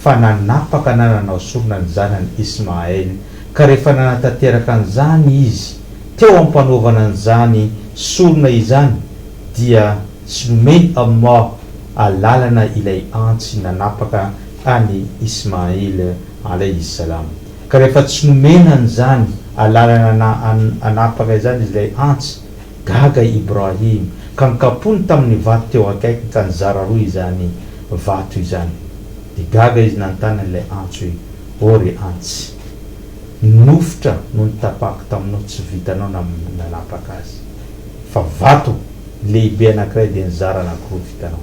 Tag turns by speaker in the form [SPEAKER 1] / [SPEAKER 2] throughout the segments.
[SPEAKER 1] fa nanapaka na nanao sorona ny zanany Ismaël, ka rehefa nanatanteraka an'izany izy teo am-panaovana an'izany sorona izany dia tsy nomeny Allah alalana ilay antsy nanapaka an'i Ismaïl alayhi s-salam. Ka rehefa tsy nomena an'izany alalana na anapaka izany izy ilay antsy, gaga i Ibrahim ka nikapohiny tamin'ny vato teo akaikiny ka nizara roa izany vato izany. Dia gaga izy nanontany an'ilay antsy hoe, Ô ry antsy, nofotra no nitapahako taminao tsy vitanao na nanapaka azy, fa vato lehibe anankiray dia nizara anankiroa vitanao.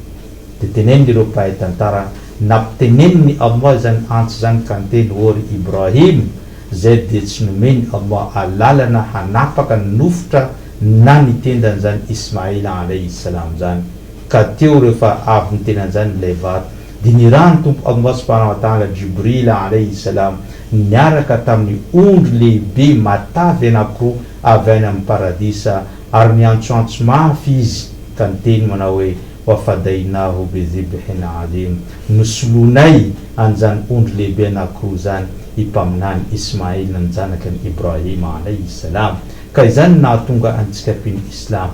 [SPEAKER 1] Dia tenenin'ireo mpahay tantara nampitenenin'i Allah izany antsy izany ka niteny, Ô ry Ibrahim, izay dia tsy nomen'i Allah alalana hanapaka ny nofotra na ny tendan'izany Ismaila alaihi salam izany, Ka teo rehefa avy niteny an'izany ilay vady, dia nirahan'ny Tompo Allah Subhanahu wa Ta'ala Jibril Alayhi Salam niaraka tamin'ny ondry lehibe matavy anankiroa avy any amin'ny Paradisa ary niantsoantso mafy izy ka niteny manao hoe, Wa fadaynahu bi dhibhin 'adhim, Nosoloinay an'izany ondry lehibe anankiroa izany i Mpaminany Ismail ny zanaky an'i Ibrahim Alayhi Salam. Ka izany no nahatonga antsika mpino Islam.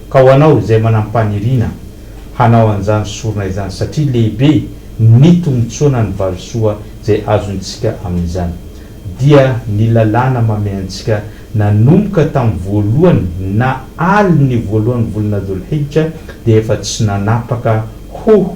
[SPEAKER 1] Ka ho anao izay manam-paniriana hanao an'izany sorona izany, satria lehibe ny tombontsoana ny valisoa izay azontsika amin'izany, dia ny lalàna mamehy antsika nanomboka tamin'ny voalohany na alin'ny voalohan'ny volana Dhul-Hijja dia efa tsy nanapaka ho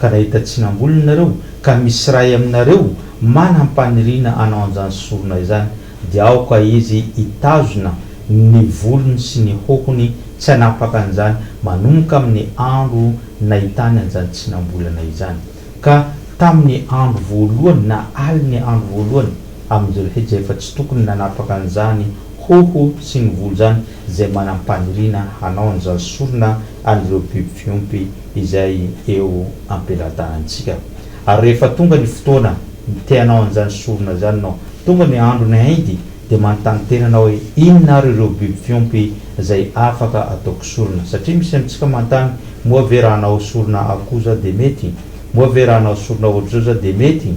[SPEAKER 1] Ka nahita tsinam-bolony ianareo, ka misy iray aminareo manam-paniriana hanao an'izany sorona izany, dia aoka izy hitazona ny volony sy ny hohony tsy hanapaka an'izany manomboka amin'ny andro nahitany an'izany tsinam-bolana izany. Ka tamin'ny andro voalohany, na alin'ny andro voalohany, amin'ny Zilhija dia efa tsy tokony nanapaka an'izany hoho sy ny volo izany izay manam-paniriana hanao an'izany sorona an'ireo biby fiompy, izay eo am-peladahantsika. Ary rehefa tonga ny fotoana te-hanao an'izany sorona izany ianao, tonga ny andron'ny Aïd, dia manontany tena anao hoe, Inona ary ireo biby fiompy izay afaka ataoko sorona? Satria misy amintsika manontany, Moa ve raha hanao sorona akoho za dia mety? Moa ve raha hanao sorona ohatr'izao za dia mety?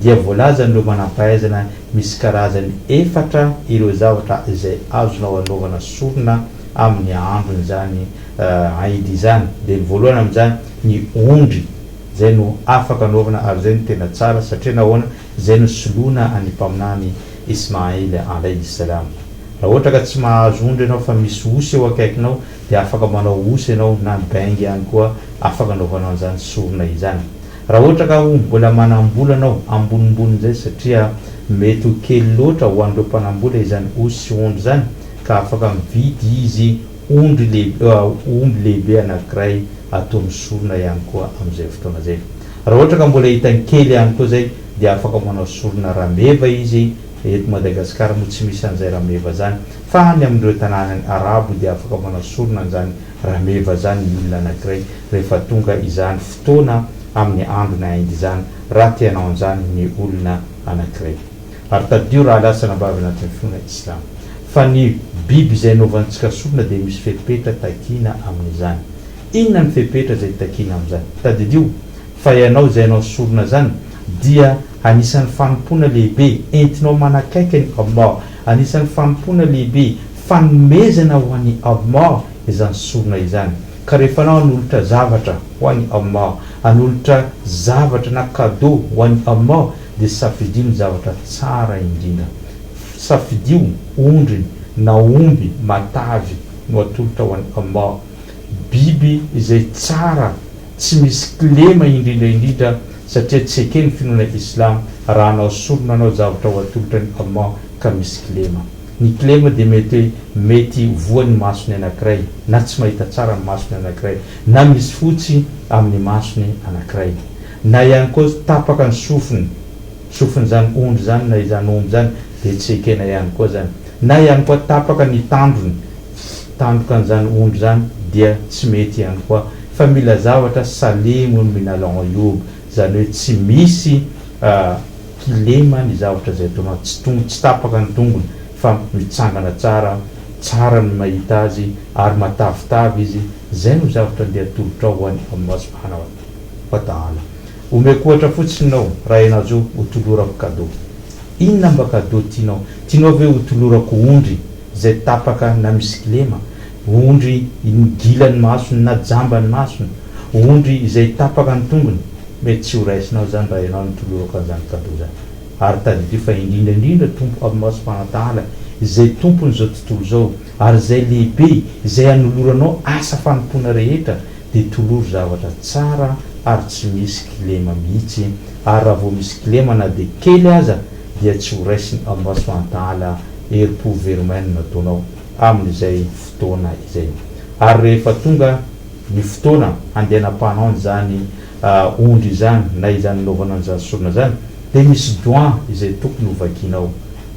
[SPEAKER 1] Dia voalazan'ireo manam-pahaizana misy karazany efatra ireo zavatra izay azonao anaovana sorona amin'ny andron'izany Aïd izany dia ny voalohany amin'izany ny ondry izay no afaka anaovana ary izay no tena tsara satria nahoana izay no soloina an'ny mpaminany Ismaïl Alayhi Salam raha ohatra ka tsy mahazo ondry ianao fa misy osy eo akaikinao dia afaka manao osy ianao na ny bengy ihany koa afaka anaovanao an'izany sorona izany raha ohatra ka ho mbola manambola anao amboninbonin'izay satria mety ho kely loatra ho an'ireo mpanambola izany osy sy ondry izany ka afaka mividy izy Omby lehibe, omby lehibe anankiray ataony sorona ihany koa amin'izay fotoana izay. Raha ohatra ka mbola hitany kely ihany koa izay dia afaka manao sorona rameva izy, eto Madagasikara moa tsy misy an'izay rameva izany, fa any amin'ireo tanàna arabo dia afaka manao sorona an'izany rameva izany ny olona anankiray rehefa tonga izany fotoana amin'ny andron'ny Aïd izany, raha te hanao an'izany ny olona anankiray. Ary tadidio raha lasa nambavy anatin'ny finoana islam. Fa ny biby izay anaovantsika sorona dia misy fepetra takiana amin'izany. Inona ny fepetra izay takiana amin'izany? Tadidio fa ianao izay anao sorona izany dia anisan'ny fanompoana lehibe entinao manakaiky an'i Allah. Anisan'ny fanompoana lehibe, fanomezana ho an'i Allah izany sorona izany. Ka rehefa anao hanolotra zavatra ho an'i Allah, hanolotra zavatra na cadeau ho an'i Allah, dia safidio ny zavatra tsara indrindra. Safidio ondry na omby matavy no atolotra ho an'i Allah. Biby izay tsara, tsy misy kilema indrindra indrindra satria tsy eken'ny finoana Islam raha hanao sorona hanao zavatra ho atolotra an'i Allah ka misy kilema. Ny kilema dia mety hoe mety voan'ny masony anankiray na tsy mahita tsara ny masony anankiray na misy fotsy amin'ny masony anankiray. Na ihany koa tapaka ny sofiny, sofin'izany ondry izany na izany omby izany dia tsy ekena ihany koa izany. Na ihany koa tapaka ny tandrony, tandrokan'izany ondry izany dia tsy mety ihany koa. Fa mila zavatra salemoun min al-'uyub, izany hoe tsy misy kilema ny zavatra izay ataonao, tsy tong tsy tapaka ny tongony fa mitsangana tsara, tsara ny mahita azy ary matavitavy izy, izay no zavatra andeha atolotrao ho an'i Allah subhanahu wa. Wataala. Omeko ohatra fotsiny nao raha enajo ho tolorako cadeau. Inona mba cadeau tianao? Tianao ve ho tolorako ondry izay tapaka na misy kilema? Ondry gila ny masony na jamba ny masony? Ondry izay tapaka ny tongony? Mety tsy ho raisinao izany raha ianao no tolorako an'izany cadeau izany. Ary tadidio fa indrindra indrindra Tompo Abimasipanataala izay Tompon'izao tontolo izao, Ary izay lehibe, izay hanoloranao asa fanompoana rehetra, dia tolory zavatra tsara ary tsy misy kilema mihitsy, ary raha vao misy kilema na dia kely aza, dia tsy ho raisiny ao masoantahala herim-po very maina ny nataonao amin'izay fotoana izay. Ary rehefa tonga ny fotoana handehanam-pahanao an'izany ondry izany, na izany hanaovana an'izany sorona izany, dia misy doan izay tokony hovakianao.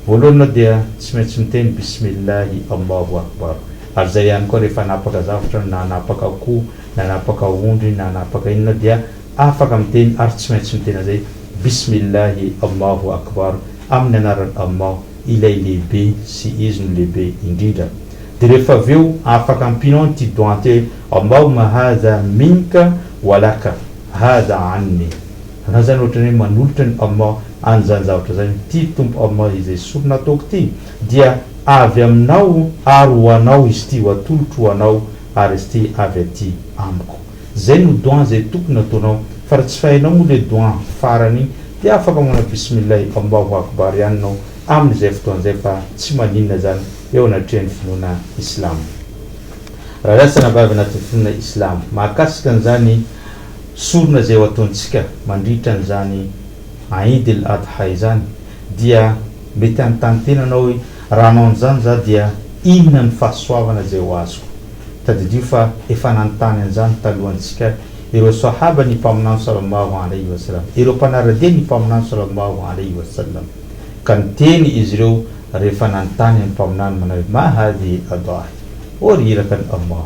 [SPEAKER 1] Voalohany ianao dia tsy maintsy miteny Bismillahi Allahu Akbar. Ary izay ihany koa rehefa hanapaka zavatra na hanapaka akoho na hanapaka ondry na hanapaka inona dia afaka miteny ary tsy maintsy miteny an'izay Bismillahi Allahu Akbar amin'ny anaran'i Allah ilay lehibe sy Izy no lehibe indrindra. Dia rehefa avy eo afaka ampianao an'ity doa an'ity hoe Allahumma hadha minka wa laka hadha anni. Na izany ohatrany hoe manolotra ny Allah an'izany zavatra izany ity Tompo Allah izay sorona ataoko ity dia avy aminao ary ho anao izy ity ho atolotro ho anao ary izy ity avy aty amiko. Izay no doua izay tokony ataonao fa raha tsy fainao moa ilay doua farany iny dia afaka manao bismillah Allahu akbar ihany ianao amin'izay fotoana izay fa tsy maninona izany eo anatrehan'ny finoana islamo. Raha izaho tsy anabavy anatin'ny finoana islamo mahakasika an'izany Sorona izay ho ataontsika mandritra an'izany Aïd el Adha izany dia mety hanontany tena anao hoe, raha hanao an'izany za dia inona ny fahasoavana izay ho azoko? Tadidio fa efa nanontany an'izany talohantsika ireo Sahaba ny Mpaminany Sallallahu Alayhi wa Sallam, ireo mpanara-dia ny Mpaminany Sallallahu Alayhi wa Sallam, ka niteny izy ireo rehefa nanontany an'i Mpaminany manao hoe, Ma hadhihi al-Adhahi? Ô ry irakan'i Allah!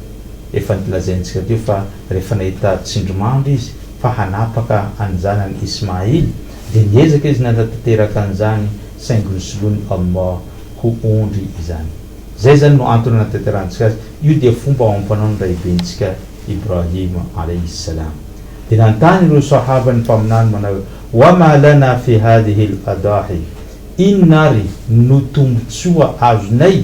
[SPEAKER 1] Efa nolazaintsika teo fa rehefa nahita tsindrimandry izy fa hanapaka an'ny zanany Ismaïl, dia niezaka izy nanatanteraka an'izany saingy nosoloin'i Allah ho ondry izany. Izay izany no antony nanatanterahantsika azy. Io dia fomba amam-panao ny Raibentsika Ibrahim alaihi salam. Dia nanontany ireo Sahaba ny Mpaminany manao hoe, Wa ma lana fi hadhihi al-adahi, Inona ary no tombontsoa azonay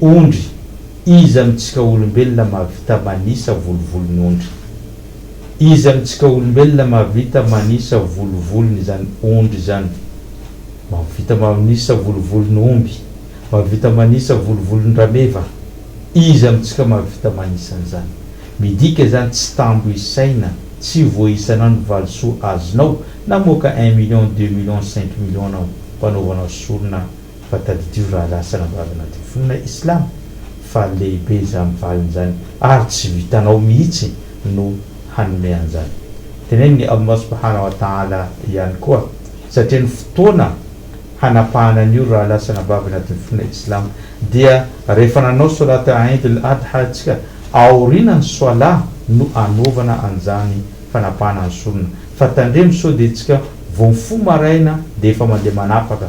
[SPEAKER 1] Ondry, Iza amintsika olombelona mahavita manisa volovolon'ondry? Iza amintsika olombelona mahavita manisa volovolon'izany ondry izany? Mahavita manisa volovolon'omby, mahavita manisa volovolon-drameva. Iza amintsika mahavita manisa an'izany? Midika izany tsy tambo isaina, tsy voaisanao ny valisoa azonao, namoaka un million, deux millions, cinq millions anao, mpanaovanao sorona, Fa tadidio rahalahy sy ranabavy anatin'ny finoana islamo fa lehibe izany valiny izany ary tsy vitanao mihitsy no hanome an'izany. Tenenin'i Allah subhanahu wa ta'ala ihany koa satria ny fotoana hanapahana ny oro rahalahy sy anabavy anatin'ny finoana islamo dia rehefa nanao solat Eid al-Adha isika aorinan'ny soalah no anaovana an'izany fanapahana ny sorona fa tandremo sao dia isika vao mifoha maraina dia efa mandeha manapaka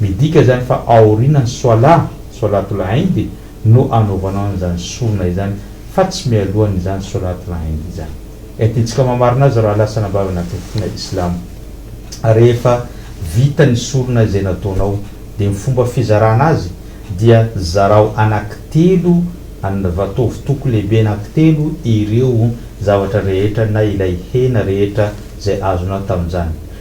[SPEAKER 1] Midika izany fa aorianan'ny Swalah, Swalatul Eid, no anaovanao an'izany sorona izany fa tsy mialohan'izany Swalatul Eid izany. Dia tiantsika mamarina azy raha lasa anabavy anatin'ny finoana Islamo. Rehefa vita ny sorona izay nataonao, dia ny fomba fizarana azy dia zarao anankitelo an, va ataovy toko lehibe anankitelo ireo zavatra rehetra na ilay hena rehetra izay azonao tamin'izany.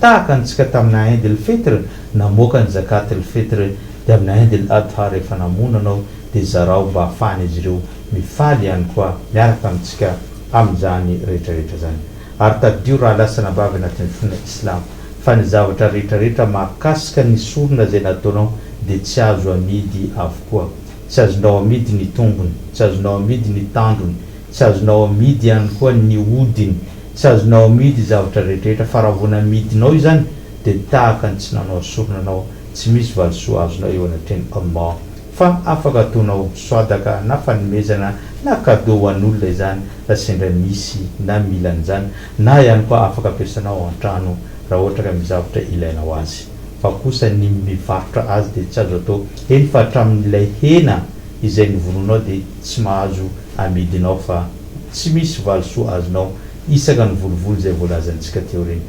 [SPEAKER 1] Tahaka antsika tamina Eid el Fitr namoaka ny Zakat el Fitr dia amina Eid el Adha rehefa namono anao dia zarao mba afahan'izy ireo mifaly ihany koa miaraka amintsika amin'izany rehetrarehetra zany. Ary tadidio rahalahy sy anabavy anatin'ny finoana Islam fa ny zavatra rehetrarehetra mahakasika ny sorona izay nataonao dia tsy azo amidy avokoa. Tsy azonao amidy ny tongony, tsy azonao amidy ny tandrony, Tsy azonao amidy ihany koa ny hodiny. Tsy azonao amidy ny zavatra rehetrarehetra, fa raha vao namidinao izany, dia tahaka ny tsy nanao sorona anao, tsy misy valisoa azonao eo anatrehan'i Allah. Fa afaka ataonao swadaka na fanomezana na cadeau ho an'olona izany raha sendra misy na mila an'izany, na ihany koa afaka ampiasanao ao an-trano raha ohatra ka misy zavatra ilainao azy. Fa kosa ny mivarotra azy dia tsy azo atao, eny fa hatramin'ilay hena izay novonoinao dia tsy mahazo amidinao fa tsy misy valisoa azonao isaka ny volovolo izay voalazantsika teo ireny.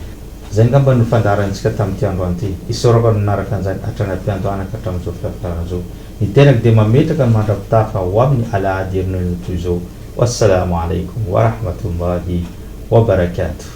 [SPEAKER 1] Izay angamba no fandaharantsika tamin'ity androany ity. Isaorako ny nanaraka an'izany hatrany am-piandohana ka hatramin'izao fitantarana izao. Ny tenako dia mametraka ny mandra-pitafa ho amin'ny alahady herinandro toy izao. Wassalaamu alaikum wa rahmatullahi wa barakatuh.